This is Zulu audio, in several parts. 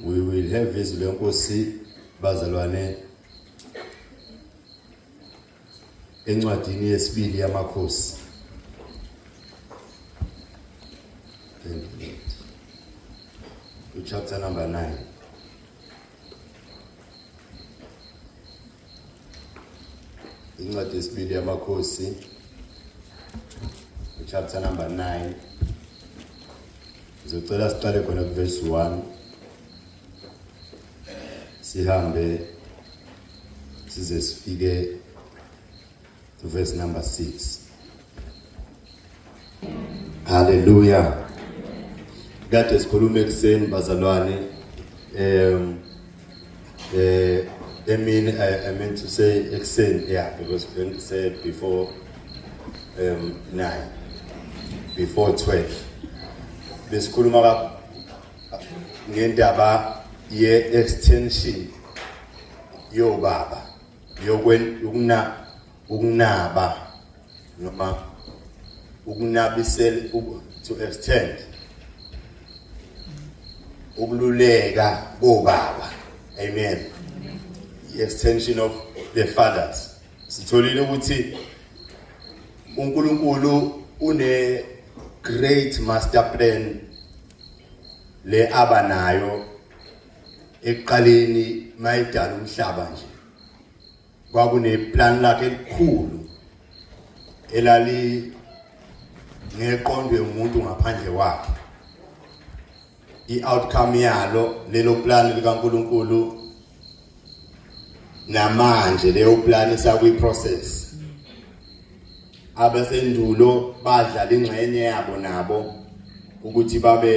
we will have izwi lenkosi bazalwane encwadini yesibili yamakhosi chapter number 9 incwadi yesibili yamakhosi chapter number 9 ngizocela siqale khona kuverse 1 sihambe size sifike Verse number 6. Hallelujah. Kade sikhuluma ekuseni bazalwane um eh I mean I, I meant to say ekuseni yeah because when say before um 9 before 12 besikhuluma ngendaba ye extension yobaba yokunaba noma ukunabisela to extend ukululeka kobaba amen the extension of the fathers sitholile ukuthi uNkulunkulu une great master plan le abanayo ekuqaleni mayidala umhlaba nje kwakuneplan lakhe elikhulu elali ngeqondwe umuntu ngaphandle wakhe i-outcome yalo lelo plan likaNkuluNkulu namanje leyo plan isakwi-process abasendulo badlala ingxenye yabo nabo ukuthi babe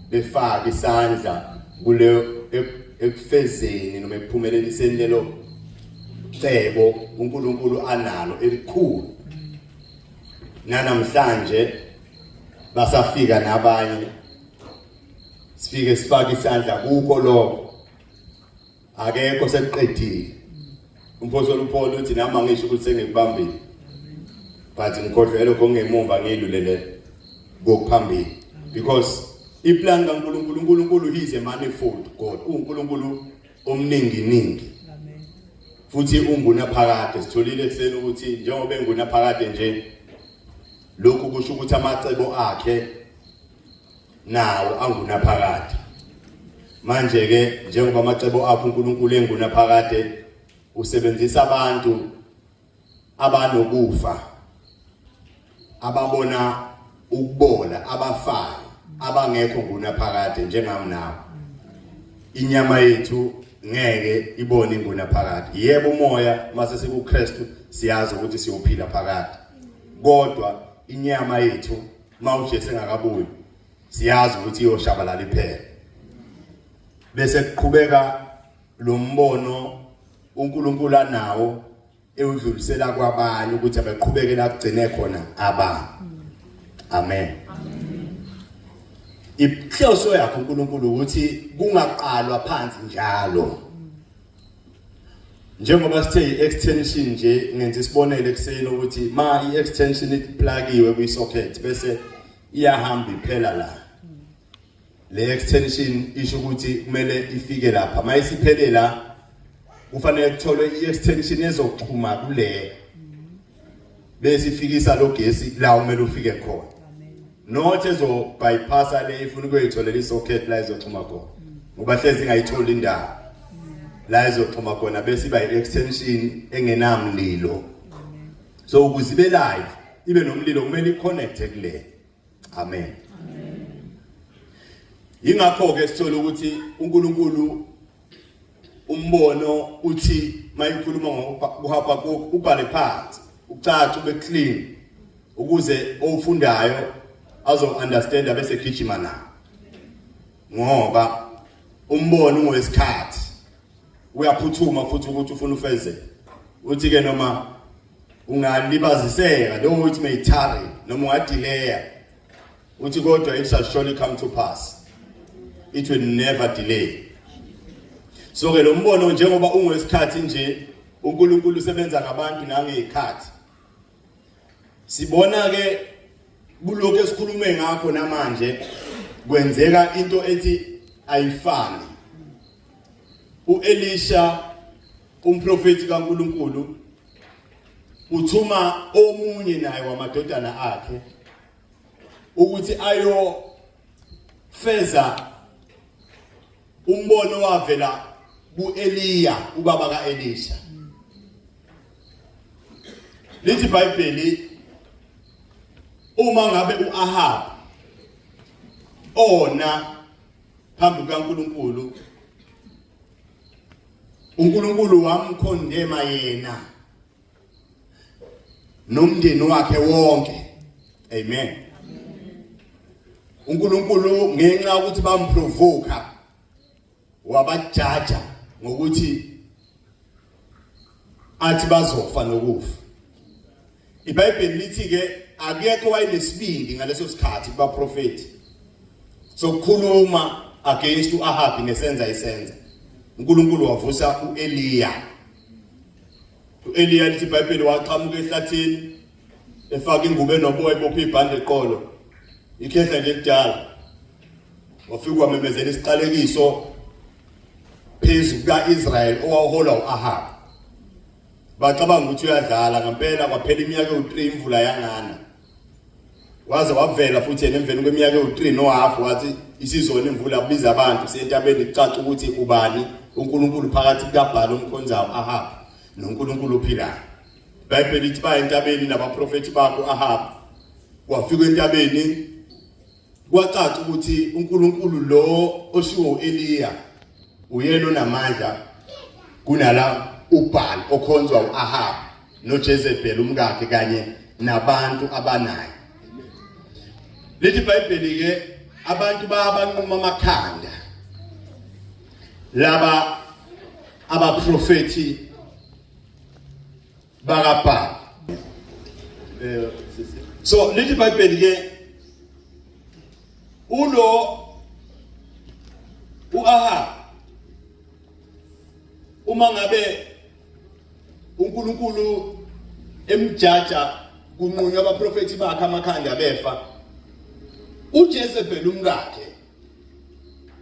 befake isandla kule ekufezeni noma ekuphumeleliseni lelo cebo uNkulunkulu analo elikhulu nanamhlanje basafika nabanye sifike sifake isandla kukho lokho akekho sekuqedile umfowethu olupholo uthi nami angisho ukuthi sengikubambile but ngikhohlwe lokho ngemumva ngilulele kokuphambili because iplan kaNkulunkulu uNkulunkulu he is a manifold God uNkulunkulu omningi ningi futhi ungunaphakade sitholile ekuseni ukuthi njengoba engunaphakade nje lokhu kusho ukuthi amacebo akhe nawo angunaphakade manje ke njengoba amacebo akho uNkulunkulu engunaphakade usebenzisa abantu abanokufa ababona ukubola abafayo abangekho ngunaphakade njengami nawe inyama yethu ngeke ibone ingunaphakade yebo umoya mase sikuKristu siyazi ukuthi siyophila phakade kodwa inyama yethu uma uJesu engakabuyi siyazi ukuthi iyoshabalala iphela bese kuqhubeka lo mbono uNkulunkulu anawo ewudlulisela kwabanye ukuthi abaqhubeke la kugcine khona aba amen inhloso yakho uNkulunkulu ukuthi kungaqalwa phansi njalo njengoba sithe i-extension nje ngenza isibonelo ekuseni ukuthi ma i-extension iplakiwe kwi-socket bese iyahamba iphela la le extension isho ukuthi kumele ifike lapha ma isiphele la kufanele kutholwe i-extension ezoxhuma kule bese ifikisa lo gesi la umele ufike khona not ezo bypassa le ifuna ukuyitholela isocket la izoxhuma khona ngoba hlezi ingayitholi indawo la izoxhuma khona bese iba i-extension engenamlilo so ukuze ibe live ibe nomlilo kumele i-connecte kulena amen yingakho ke sithola ukuthi uNkulunkulu umbono uthi mayikhuluma ngokuhapha ubhale phansi ucaca ube clean ukuze ofundayo azo understand bese gijima na ngoba umbono ungowesikhathi uyaphuthuma futhi ukuthi ufuna ufeze uthi ke noma ungalibaziseka noma uthi may tarry noma ungadileya uthi kodwa it shall surely come to pass it will never delay so ke lo mbono njengoba ungesikhathi nje uNkulunkulu usebenza ngabantu nangezikhathi sibona ke kulokho esikhulume ngakho namanje kwenzeka into ethi ayifani uElisha umprofeti kaNkuluNkulu uthuma omunye naye wamadodana akhe ukuthi ayo feza umbono wavela kuEliya ubaba kaElisha lithi iBhayibheli uma ngabe uAhab ona phambi kukaNkulunkulu uNkulunkulu wamkhondema yena nomndeni wakhe wonke amen uNkulunkulu ngenxa ukuthi bamprovoka wabajaja ngokuthi athi bazofa nokufa iBhayibheli lithi ke akekho wayenesibindi ngaleso sikhathi kubaprofeti sokukhuluma against uAhabi nesenza isenza uNkulunkulu wavusa uEliya uEliya lithi iBhayibheli waqhamuka ehlathini efaka ingubo enoboya ibopha ibhande eqolo ikhehla nje kudala wafika wamemezela isiqalekiso phezu kuka-israyeli owawuholwa u-ahabu bacabanga ukuthi uyadlala ngempela kwaphela iminyaka ewu-three imvula yangana waze wavela futhi yena emveni kweminyaka ewu-three nohafu wathi isizona imvula kubiza abantu kusentabeni kucaca ukuthi ubani unkulunkulu phakathi kukabhala umkhonzayo ahabu nonkulunkulu ophilayo ibhayibheli ithi baye entabeni nabaprofethi bakho ahabu wafika entabeni Kwacaca ukuthi uNkulunkulu lo oshiwo uEliya uyena onamandla kunala uBhaal okhonzwa uAhab noJezebel umkakhe kanye nabantu abanaye. Lithi iBhayibheli ke abantu bayabanquma amakhanda laba abaprofethi bakabhaka eh, so lithi ibhayibheli ke ulo uAhab uma ngabe uNkulunkulu emjaja kunqunywa abaprofeti bakhe amakhanda befa uJezebel umkakhe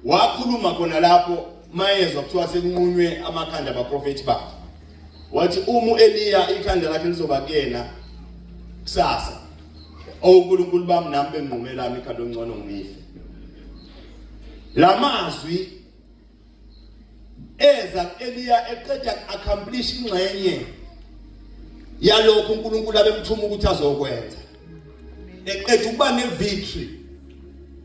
wakhuluma khona lapho mayezwa kuthiwa sekunqunywe amakhanda abaprofethi bakhe wathi uma uEliya ikhanda lakhe lizoba kuyena kusasa oNkulunkulu bami nami benqumela ikhanda ongcono ngife lamazwi eza eliya eqeda accomplish ingxenye yalokho uNkulunkulu abemthuma ukuthi azokwenza eqeda ukuba nevictory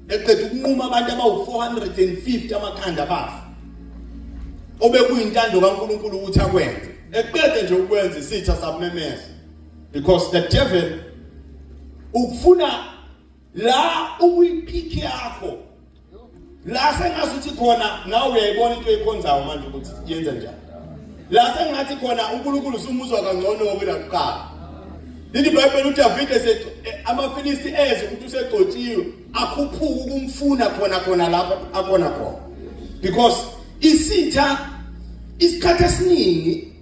eqeda ukunquma abantu abawu450 amakhanda abafa obekuyintando kaNkulunkulu ukuthi akwenze eqede nje ukwenza isitha sabumemeza because the devil ukufuna la ukuyipiki yakho la sengazi ukuthi khona nawe uyayibona into eyikhonzayo manje ukuthi yenza njani la sengathi khona uNkulunkulu usumuzwa kangcono kunakuqala leli bhayibheli udavide eh, amafilisti eze ukuthi usegcotshiwe akhuphuke ukumfuna khona khona lapho akhona khona because isitha isikhathi esiningi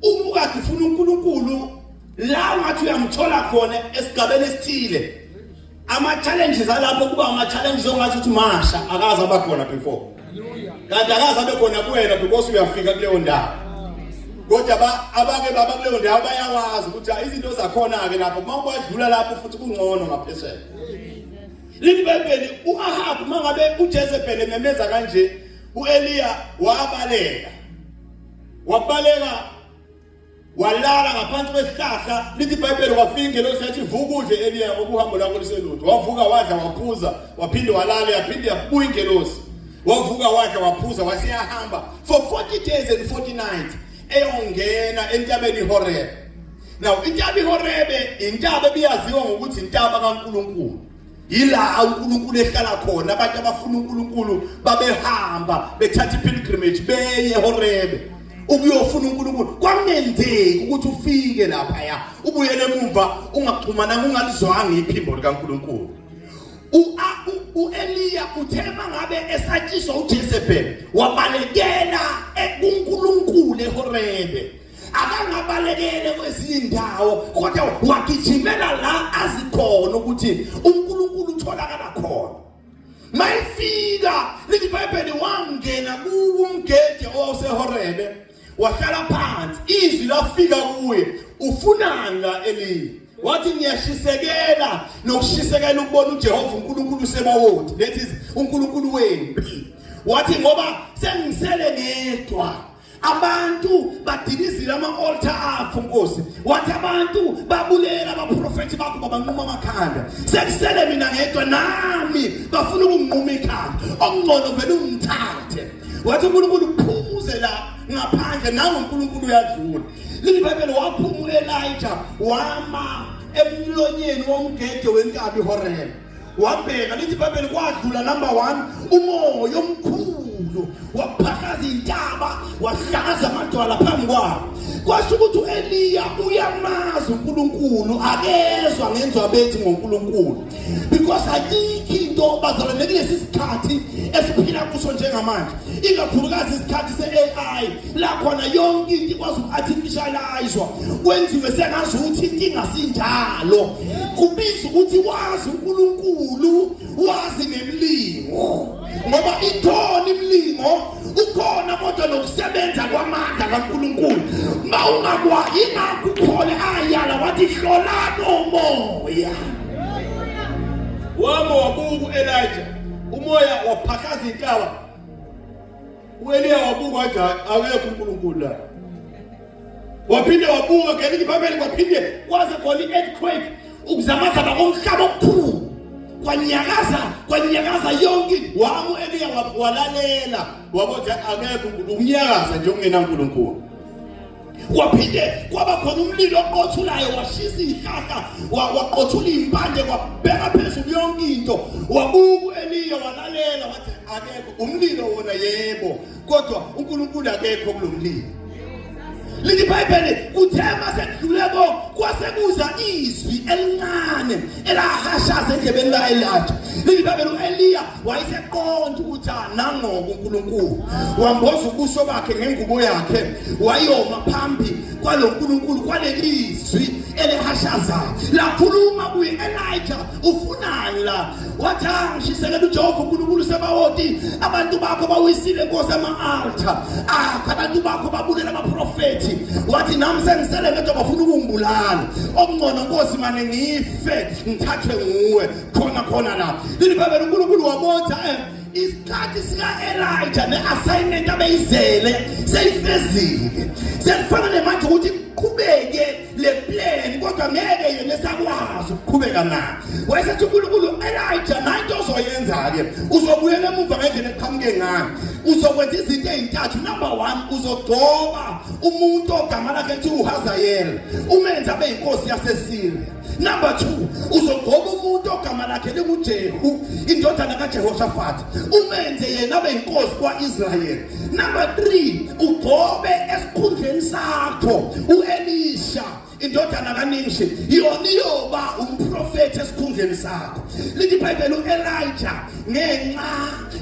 uma ukade ufuna uNkulunkulu la ungathi uyamthola khona esigabeni esithile ama-challenges alapho kuba ama-challenges ongathi ukuthi masha akaze aba khona before kanti akaze abe khona kuwena because uyafika kuleyo ndawo kodwa abake baba kuleyo ndawo bayakwazi ukuthi izinto zakhona-ke lapho uma ubadlula lapho futhi kungcono ngaphesheya libhebheli u-ahabu uma ngabe ujezebhele memeza kanje u-eliya wabaleka wabaleka walala ngaphansi kwesihlahla lithi ibhayibheli wafika ingelosi yathi vuka udle eliya okuhambo lwakho liselutho wavuka wadla waphuza waphinde walala yaphinde yabuya ingelosi wavuka wadla waphuza waseyahamba for 40 days and 40 nights eyongena entabeni ihorebe now intaba ihorebe intaba ebiyaziwa ngokuthi intaba kankulunkulu yila uNkulunkulu ehlala khona abantu abafuna uNkulunkulu babehamba bethatha ipilgrimage beye eHorebe ukuyofuna uNkulunkulu kwamenzeki ukuthi ufike lapha ya ubuyele emumva ungaxhumana ungalizwanga iphimbo likaNkulunkulu uEliya uthe mangabe esatshiswa uJezebel wabalekela kuNkulunkulu eHorebe akangabalekele kwezinye indawo kodwa wagijimela la azikhona ukuthi uNkulunkulu utholakala khona mayifika lithi ibhayibheli wangena kuwo umgede owawusehorebe wahlala phansi izwi lafika kuye ufunani la elini wathi ngiyashisekela nokushisekela ukubona uJehova uNkulunkulu sebawodi that is uNkulunkulu wempi wathi ngoba sengisele ngedwa abantu badilizile ama-olta akho nkosi wathi abantu babulela abaprofethi bakho babanquma amakhanda sekusele mina ngedwa nami bafuna ukunginquma ikhanda okungcono vele ungithathe wathi unkulunkulu phumuze la ngaphandle nawe unkulunkulu uyadlula lilibhayibheli waphuma u-elija wama emlonyeni womgede wenkabi ihorela wabheka lithi ibhayibheli kwadlula number one umoya omkhulu waphakaza intaba wahlakaza amadwala phambi kwabo kwasho ukuthi u-eliya uyamazi unkulunkulu akezwa ngenzwa bethi ngonkulunkulu because ayikho into bazalwane kulesi sikhathi esiphila kuso njengamanje ikakhulukazi isikhathi se-ai la khona yonke into ikwazi uku-artificializwa kwenziwe sengazi ukuthi inkinga sinjalo kubiza ukuthi wazi unkulunkulu wazi nemlingo ngoba ikhona imilingo ukhona kodwa nokusebenza kwamandla kankulunkulu ma ungakwa ingakho ukhole ayala wathi hlolani umoya wama wabuku elija umoya waphakaza intaba uEliya wabuka wathi akekho uNkulunkulu la waphinde wabuka ngelinye ibabeli waphinde kwaze khona i-earthquake ukuzamazama komhlaba okukhulu kwanyakaza kwanyakaza yonke wamu eliya walalela wakothi akekho unyakaza nje ungenankulunkulu kwaphinde kwaba khona umlilo oqothulayo washisa izihlahla waqothula izimpande kwabheka phezulu yonke into wabuka u-eliya walalela wathi akekho umlilo wona yebo kodwa unkulunkulu akekho kulo mlilo leli bhayibheli kuthe masekudlule ko kwasekuza izwi elincane elahashaza endlebeni ka-elija leli bhayibheli u-eliya wayeseqonda ukuthi nangoba uNkulunkulu wamboza ubuso bakhe ngengubo yakhe wayoma phambi kwalo nkulunkulu kwalelizwi elihashazayo lakhuluma kuye elija ufunani la wathi angishisekela ah, ujehova unkulunkulu sebawoti abantu bakho bawisile nkosi ama-alta akho ah, abantu bakho babulela abaprofethi wathi nami sengisele ngedwa bafuna ukungibulala okungcono nkosi mane ngife ngithathwe nguwe khona khona la ilibhayibheli unkulunkulu wabotha um isikhathi sika-elija ne-assignment abeyizele seyifezile sekufana nemanje ukuthi kuqhubeke le plan kodwa ngeke yena esakwazi ukuqhubeka na wayesethi unkulunkulu elija nayi into ozoyenza-ke uzobuyela emuva ngendlela eqhamuke ngayo uzokwenza izinto ezintathu number one uzogcoba umuntu ogama lakhe kuthiwa uhazayela umenze abe yinkosi yasesiriya Number 2 uzogoba umuntu ogama lakhe linguJehu indodana kaJehoshaphat umenze yena abe inkosi kwaIsrael Number 3 ugobe esikhundleni sakho uElisha indodana kaNimshi yona iyoba umprofeti esikhundleni sakho lithi iBhayibheli uElijah ngenxa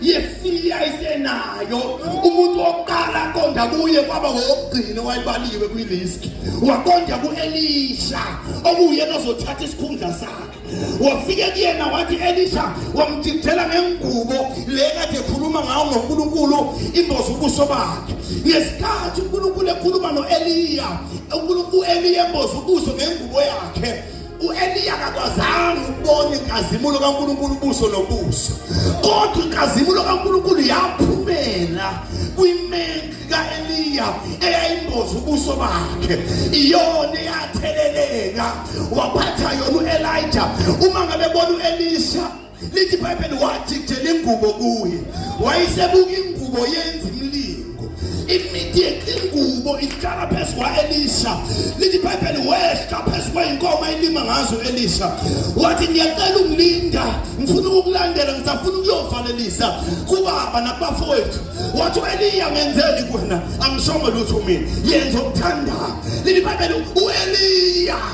yesiya isenayo umuntu wokuqala aqonda kuye kwaba wokugcina wayibaliwe kwiliski waqonda ku-elisha okuyena ozothatha isikhundla sakhe wafike kuyena wathi elisha wamjijela ngengubo le kade ekhuluma ngawo ngonkulunkulu imboza ubuso bakhe ngesikhathi unkulunkulu ekhuluma no-eliya unkulunkulu u-eliya emboza ubuso ngengubo yakhe uEliya akakwazanga ukubona inkazimulo kaNkulunkulu ubuso nobuso kodwa inkazimulo kaNkulunkulu yaphumela kwimenki kaEliya eyayimboza ubuso bakhe iyona eyatheleleka waphatha yona uElija uma ngabe bona uElisha lithi ibhayibheli wathi kujela ingubo kuye wayesebuka ingubo yenza imilingo imithi yengubo ihlala phezu kwa-elisha lithi ibhayibheli wehla phezu kweyinkomo elima ngazo elisha wathi ngiyacela ungilinda ngifuna ukukulandela ngisafuna ukuyovalelisa kubaba nakubafowethu wathi u-eliya ngenzeli kuwena angishongo lutho mina yenza okuthandayo lithi ibhayibheli u-eliya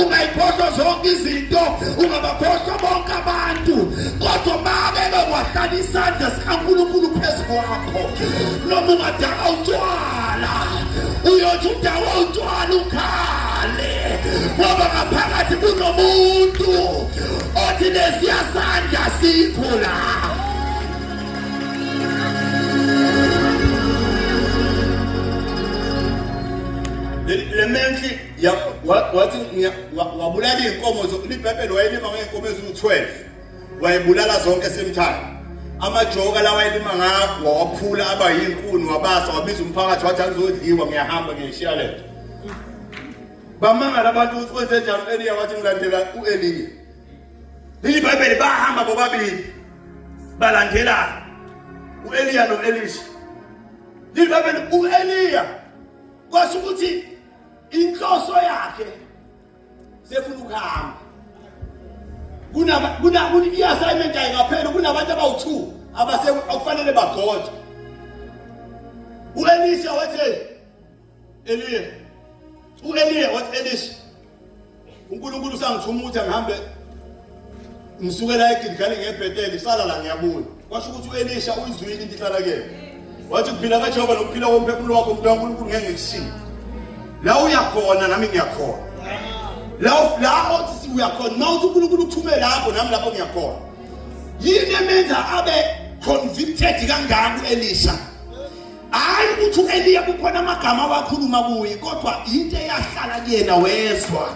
ungayiphohlwa zonke izinto ungabaphohlwa bonke abantu kodwa make bekwahlala isandla sikankulunkulu phezu kwakho noma ungadaka utshwala uyothi udawa utshwala ukhale ngoba ngaphakathi kunomuntu othi lesiya sandla sikho la le menhle Ya wa- wathi ngiya- wa- wabulala izinkomo zo- libhebhelo wayelima ngeenkomo eziwu-12 wayebulala zonke esemthanda amajoka lawa ayelima ngakho wawaphula aba yinkuni wabasa wabiza umphakathi wathi angizodliwa ngiyahamba ngiyishiya le nto bamangala abantu ukuthi kwenze njani u-eliya wathi ngilandela u-eliya leli bhayibheli bahamba bobabili balandelana u-eliya no-elisha leli bhayibheli u-eliya kwasho ukuthi inhloso yakhe sefuna ukuhamba kunama kuna i-assignment ayingapheli kunabantu abawu-two abase okufanele bagode u-elisha wathi eliya u-eliya wathi elisha uNkulunkulu usangithuma ukuthi angihambe ngisuke la eGilgali ngebhetele isala la ngiyabuya kwasho ukuthi uElisha uyizwile into ihlala kuyena wathi kuphila kaJehova nokuphila komphefumulo wakho umuntu kaNkulunkulu ngeke ngikushiye la uyakhona nami ngiyakhona la la othi uyakhona uma uthi uNkulunkulu uthume lapho nami lapho ngiyakhona yini emenza abe convicted kangaka uElisha hayi ukuthi u-eliya kukhona amagama awakhuluma kuye kodwa yinto eyahlala kuyena wezwa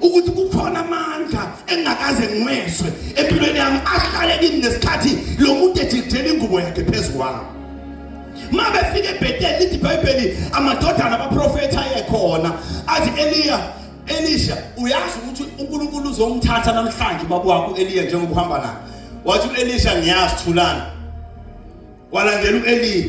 ukuthi kukhona amandla engingakaze ngiwezwe empilweni yami ahlale kimi ngesikhathi lo muntu ejikijela ingubo yakhe phezu kwami ma befika ebheteli lithi ibhayibheli amadodana abaprofethi ayekhona athi eliya elisha uyazi ukuthi unkulunkulu uzomthatha namhlanje bakwakho eliya njengoba uhamba naye wathi u-elisha ngiyazi thulana Kwalandela u-Eliya.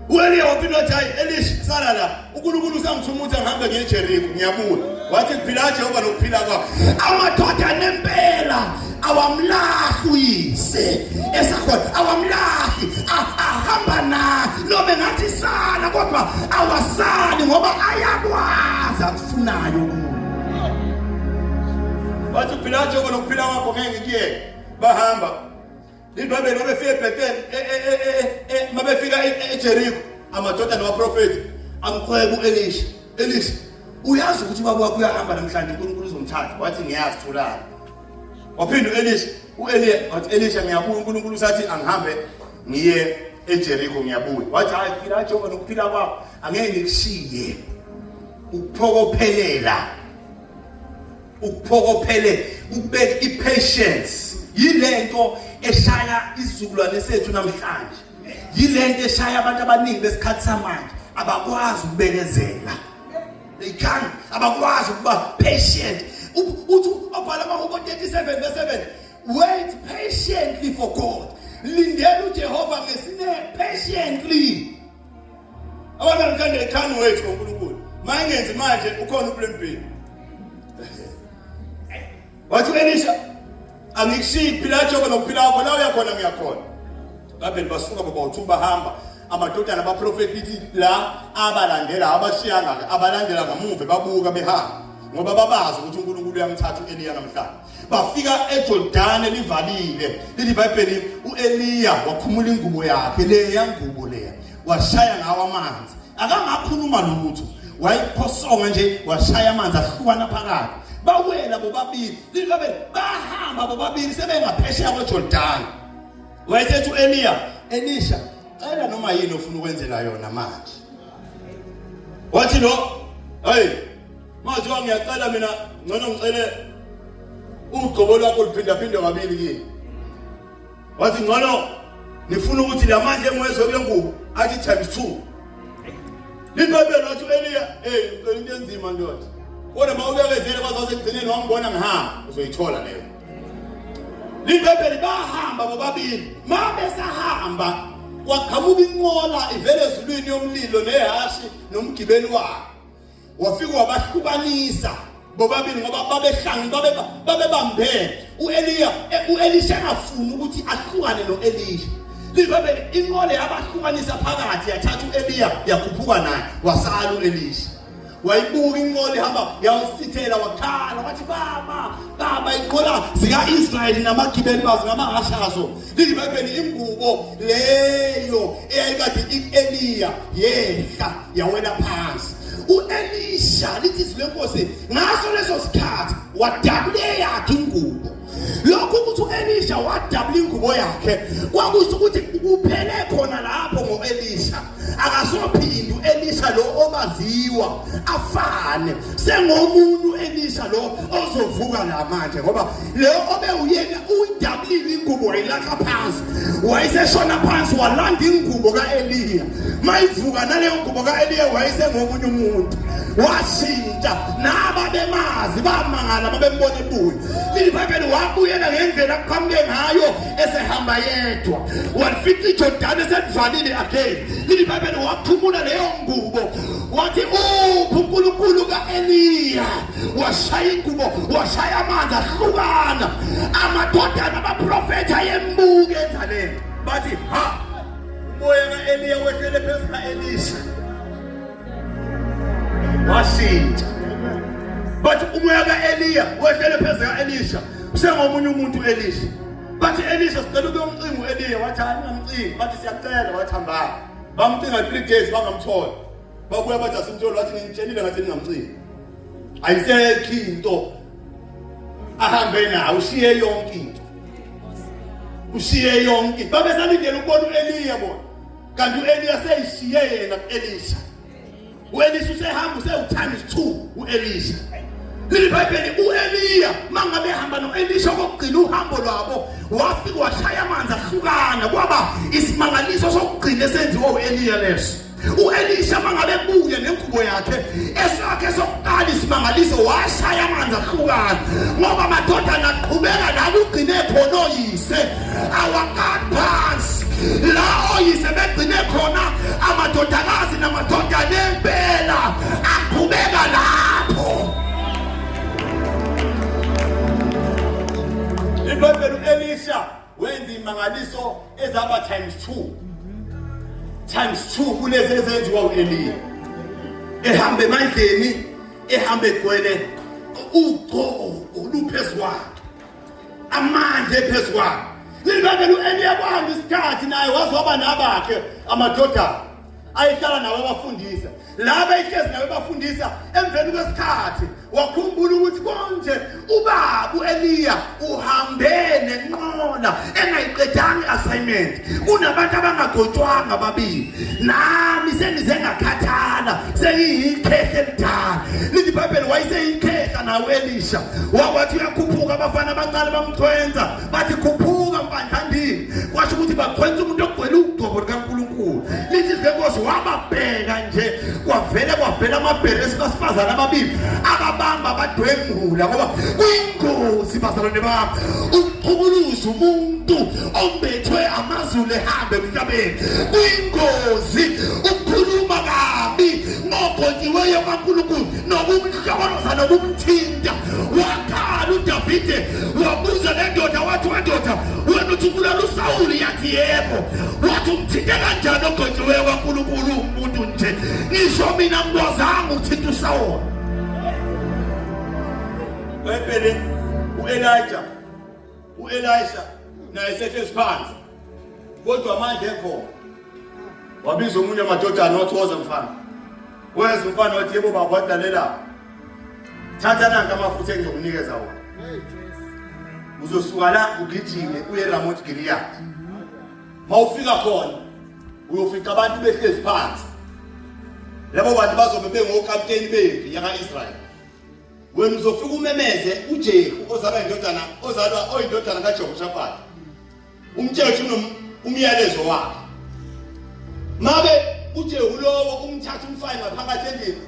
U-Eliya waphinda wathi hayi Elisha sala la uNkulunkulu usangithumutha ngihambe ngiye eJeriko ngiyabuya. Wathi kuphila Jehova nokuphila kwakho. Amadoda nempela awamlahli uyise esakhona awamlahli ahamba naye noma engathi sala kodwa awasali ngoba ayakwazi akufunayo kuye wathi uphila njengoba nokuphila kwakho ngeke kuyeke bahamba Ibhayibheli mabefika eBethel e, e, e, mabefika eJeriko amadoda nabaprofethi amkhweba uElisha. Elisha uyazi ukuthi ubaba wakho uyahamba namhlanje uNkulunkulu uzomthatha wathi ngiyazi thulana. Waphinda uElisha uEliya wathi Elisha ngiyabuya uNkulunkulu usathi angihambe ngiye eJeriko ngiyabuya. Wathi hayi phila Jehova nokuphila kwakho angeke ngikushiye. Ukuphokophelela ukuphokophele ukubeka i-patience yilento eshaya isizukulwane sethu namhlanje yilento eshaya abantu abaningi besikhathi samanje abakwazi ukubekezela they can abakwazi ukuba patient uthi obhala amahubo 37 verse 7 wait patiently for god lindela ujehova ngesine patiently abantu abathanda ithando wethu ngoNkulunkulu mayengenzi manje ukhona uplan B wathi Elisha angikushiyi phila jobe nokuphila kwakho la uyakhona ngiyakhona babheli basuka baba uthu bahamba amadodana abaprofeti lithi la abalandela abashiyanga abalandela ngamuva babuka behamba ngoba babazi ukuthi uNkulunkulu uyamthatha uEliya namhlanje bafika ejordane livalile lithi ibhayibheli u-eliya wakhumula ingubo yakhe leya ngubo leya washaya ngawo amanzi akangakhuluma lutho wayiphosonga nje washaya amanzi ahlukana phakathi bawela bobabili lithi babe bahamba bobabili sebengaphesheya kwejordane wayesethi u-eliya elisha cela noma yini ofuna ukwenzela yona manje wathi lo hey Manje ngiyacela mina ngcono ngicele ugcobo lwakho luphindaphindwe kabili kimi. Wathi ngcono nifuna ukuthi la manje engwezwe kule ngubo athi times 2. Libhayibheli wathi uEliya, "Hey, ucela into enzima ndoda." Kodwa mawubekezele kwaze ekugcineni wangibona ngihamba, uzoyithola leyo. Libhayibheli bahamba bobabili. Mabe sahamba kwaqhamuka inqola ivele ezulwini yomlilo nehhashi nomgibeli wakhe. wafika wabahlukanisa bobabili ngoba babehlangi babebambene u-eliya e, u-elisha engafuni ukuthi ahlukane no-elisha livebele inqole yabahlukanisa phakathi yathatha u-eliya yakhuphuka naye wasala u-elisha wayibuka inqola ihamba yawusithela wakhala wathi baba baba inqola zika-israyeli namagibeli bazo ngamahashazo lizibambeni ingubo leyo eyayikade i-eliya yehla yawela phansi u-elisha lithi izwi lenkosi ngaso leso sikhathi wadabula eyakhe ingubo lokhu ukuthi u-elisha wadabula ingubo yakhe kwakusho ukuthi kuphele khona lapho ngo-elisha akasophindu elisha lo obaziwa afane sengomuntu elisha lo ozovuka la manje ngoba lo obe uyena uyidablile ingubo wayilahla phansi wayeseshona phansi walanda ingubo ka-eliya mayivuka naleyo ngubo ka-eliya wayesengomunye umuntu washintsha naba bemazi bamangala babembona ebuya lilibhayibheli wabuyela ngendlela kuqhamuke ngayo esehamba yedwa walifica ijordani eselivalile again lili bhayibheli waphumula leyo ngubo wathi uphi unkulunkulu ka-eliya washaya ingubo washaya amanzi ahlukana amadodana abaprofethi ayembuke enzaleni bathi ha umoya ka-eliya wehlele phezu ka-elisha washintsha bathi umoya ka-eliya wehlele phezu ka-elisha usengomunye umuntu u-elisha bathi elisha sicela ube umcingo u-eliya wathi hayi ungamcingi bathi siyacela wathi hambaa bamcinga three days bangamtholi babuya bathi asimtholi wathi ngimtshelile ngathi ningamcingi ayisekho into ahambe nayo ushiye yonke into ushiye yonke babesalindele ukubona u-eliya bona kanti u-eliya seyishiye yena ku-elisha u-elisha usehamba usewuthimes two u-elisha leli bhayibheli u-eliya uma ngabe ehamba no-elisha okokugcina uhambo lwabo wafike washaya amanzi ahlukana kwaba isimangaliso sokugcina esenziwa u-eliya leso uElisha mangabe ebuye nengubo yakhe esakhe sokuqala isimangaliso washaya amanzi ahlukana ngoba amadodana aqhubeka la kugcine khona oyise awakani phansi la oyise begcine khona amadodakazi namadodana empela aqhubeka lapho ibhayibheli u-elisha wenza imangaliso ezaba times two times two kulezi ezenziwa u-eliya ehamba emandleni ehamba egcwele ugcobo luphezu kwakhe amandla ephezu kwabo lilibambela u-eliya kwahamba isikhathi naye waze waba nabakhe amadodana ayehlala nawo abafundisa laba ihlezi nawo ebafundisa emveni kwesikhathi wakhumbula ukuthi konje ubabu eliya uhambe nenqola engayiqedanga i-assignment kunabantu abangagotshwanga babili nami sengize ngakhathala sengiyikhehle elidala lithi ibhayibheli wayeseyikhehla nawo elisha wakwathi uyakhuphuka abafana baqale bamchwenza bathi khuphuka mpandlandini kwasho ukuthi bachwenza umuntu ogcwele ugcobo likankulunkulu lithi lenkosi wababheka nje kwavele kwavela amabhere esikasifazane ababili ababamba abadwengula ngoba kuyingozi bazalwane bami ukuchukuluza umuntu ombethwe amazulu ehambe emhlabeni kuyingozi ukukhuluma kabi ngogonyiweyo kankulunkulu nokumhla Yabona nokumthinta wakhala uDavide wabuza le ndoda wathi wendoda wena uthi ubulala uSawuli yathi yebo wathi umthinte kanjani ogojiweyo kaNkulunkulu umuntu nje ngisho mina ngikwazanga ukuthinta uSawuli wempele uElijah U-Elisha naye sehlezi phansi kodwa amandla ekhona wabiza omunye amadodana wathi woza mfana weza umfana wathi yebo baba wadalela thatha nanka amafutha engizokunikeza wona uzosuka la ugijime uye eramoti giliyadi uma ufika khona uyofica abantu behlezi phansi labo bantu bazobe bengokapteni bempi yaka-israyeli wena uzofika umemeze uJehu ozalwa indodana ozalwa oyindodana kaJehoshafati umtshele ukuthi umyalezo wakhe mabe uJehu lowo umthatha umfane ngaphakathi endlini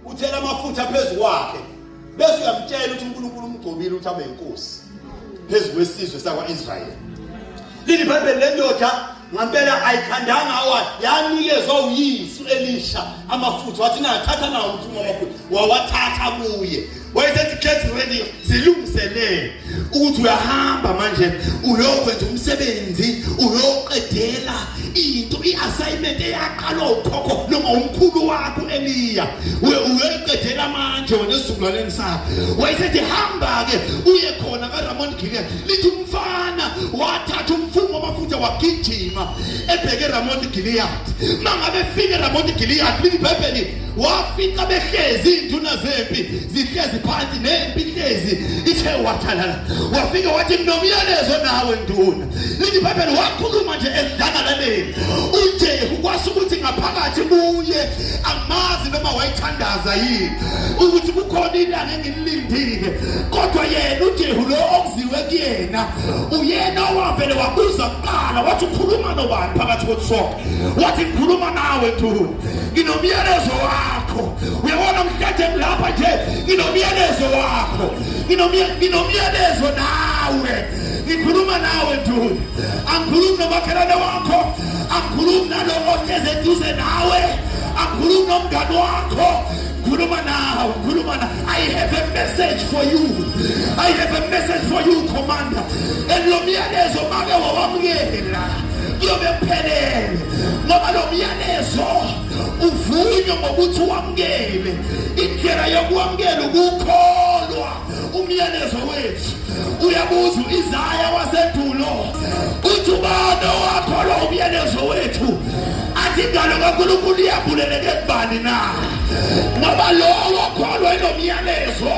uthela amafutha phezu kwakhe bese uyamtshela ukuthi uNkulunkulu umgcobile ukuthi abe inkosi phezu kwesizwe sakwa-Israyeli lilibhayibheli lendoda ngampela ayikhandanga awa yanikezwa uyisu elisha amafutha wathi nathatha nawo umfumo amafutha wawathatha kuye wayesethi get ready zilungiselele ukuthi uyahamba manje uyokwenza umsebenzi uyoqedela into i-assignment eyaqalwa ukhokho noma umkhulu wakho eliya uyoyiqedela manje wena esizukulwaneni sakho wayesethi hamba-ke uye khona karamon gilea lithi umfana wathatha umfungo wamafutha wagijima ebheke eramoti giliyadi uma ngabe efika eramoti giliyadi libhebheli wafika behlezi iy'nduna zempi zihlezi phansi nempi ihlezi ithe wathalala wafike wathi nginomyalezo nawe nduna lithi ibhebheli wakhuluma nje esidlangalaleni ujehu kwasho ukuthi ngaphakathi kuye angimazi noma wayithandaza yini ukuthi kukhona ilanga lindile kodwa yena uJehu lo okuziwe kuyena uyena owavele wabuza kuqala wathi ukhuluma nobani phakathi kokusonke wathi ngikhuluma nawe ntuhuni nginomyalezo wakho uyabona mhlathe lapha nje nginomyalezo wakho nginomyalezo nawe ngikhuluma nawe ntuhuni angikhulumi nomakhelwane wakho angikhulumi nalowo ohlezi eduze nawe angikhulumi nomngani wakho Khuluma nawe, khuluma na. I have a message for you. I have a message for you, commander. And lo myalezo make wawamukela. Kuyobe kuphelele. Ngoba lo myalezo uvunywe ngokuthi wamukele. Indlela yokwamukela ukukholwa. Umyalezo wethu uyabuza izaya wasedulo uthi ubani owakholwa umyalezo wethu athi ingalo kaNkulunkulu iyabuleleke kubani na ngoba lowo okholwa inomyalezo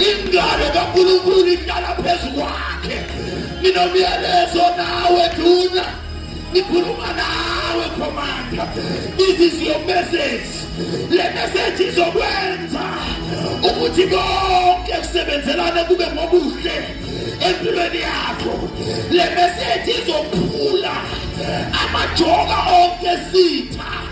ingalo kaNkulunkulu ihlala phezu kwakhe nginomyalezo nawe duna Ngikhuluma nawe commander. This is your message. Le message izokwenza ukuthi konke kusebenzelane kube ngobuhle empilweni yakho. Le message izophula amajoka onke sitha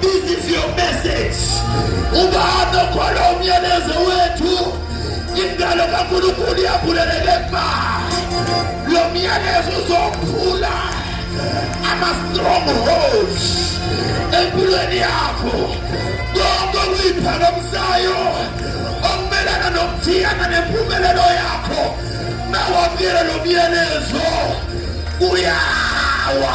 This is your message. Ubahambe ukhona umyalezo wethu. Indalo kaNkulunkulu iyavuleleke ma. Lo myalezo uzophula ama-strongholds empilweni yakho. Konke okuyiphakamisayo okumelana nokuthiyana nempumelelo yakho. Mawamyele lo myalezo uyawa.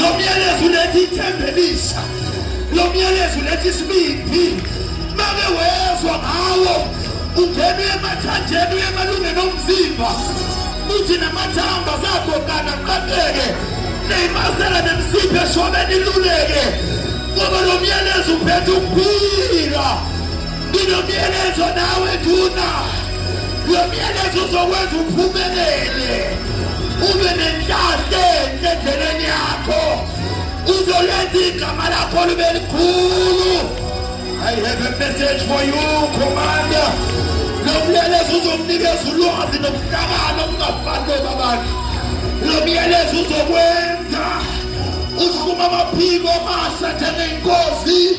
Lo myalezo uletha ithemba elisha. Lo myalezo uletha isibindi. Make wezwa ngawo ungena emathanjeni uye emalungeni omzimba uthi namathamba azagogana qaqeke neyimasela nemsiphe shobeni iluleke ngoba lo myalezo uphethe ukuphila Nginomyalezo nawe nduna. Lo myalezo uzokwenza uphumelele. Ube nenhlanhla enhle endleleni yakho. Uzolenza igama lakho libe likhulu. I have a message for you, Commander. Lo myalezo uzomnikeza ulwazi nokuhlakana okungafani kwababakhe. Lo myalezo uzokwenza uhluma amaphiko amasha njengenkosi.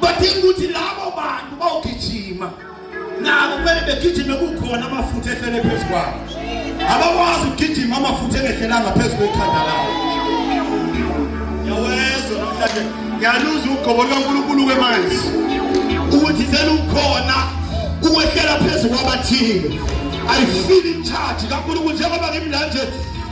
badinga ukuthi labo bantu bawugijima nabo kumele begijime kukhona amafutha ehlele phezu kwabo abakwazi ukugijima amafutha engehlelanga phezu kwekhanda labo yawezwa namhlanje ngiyaluza ugobo lukankulunkulu kwemanzi ukuthi selukhona ukwehlela phezu kwabathile ayifili imthathi kankulunkulu njengoba ngimlanje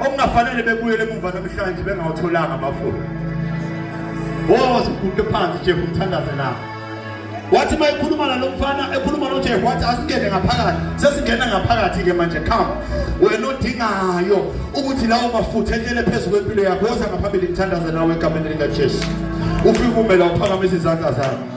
okungafanele bebuyele emuva namhlanje bengawatholanga amafula woze uguqe phansi jehu umthandaze lapho wathi uma ekhuluma nalo mfana ekhuluma nojehu wathi asingene ngaphakathi sesingena ngaphakathi-ke manje khama wena odingayo ukuthi lawo mafutha enyele phezu kwempilo yakho woza ngaphambili ngithandaze nawe egameni likajesu ufike umela uphakamisa izandla zakho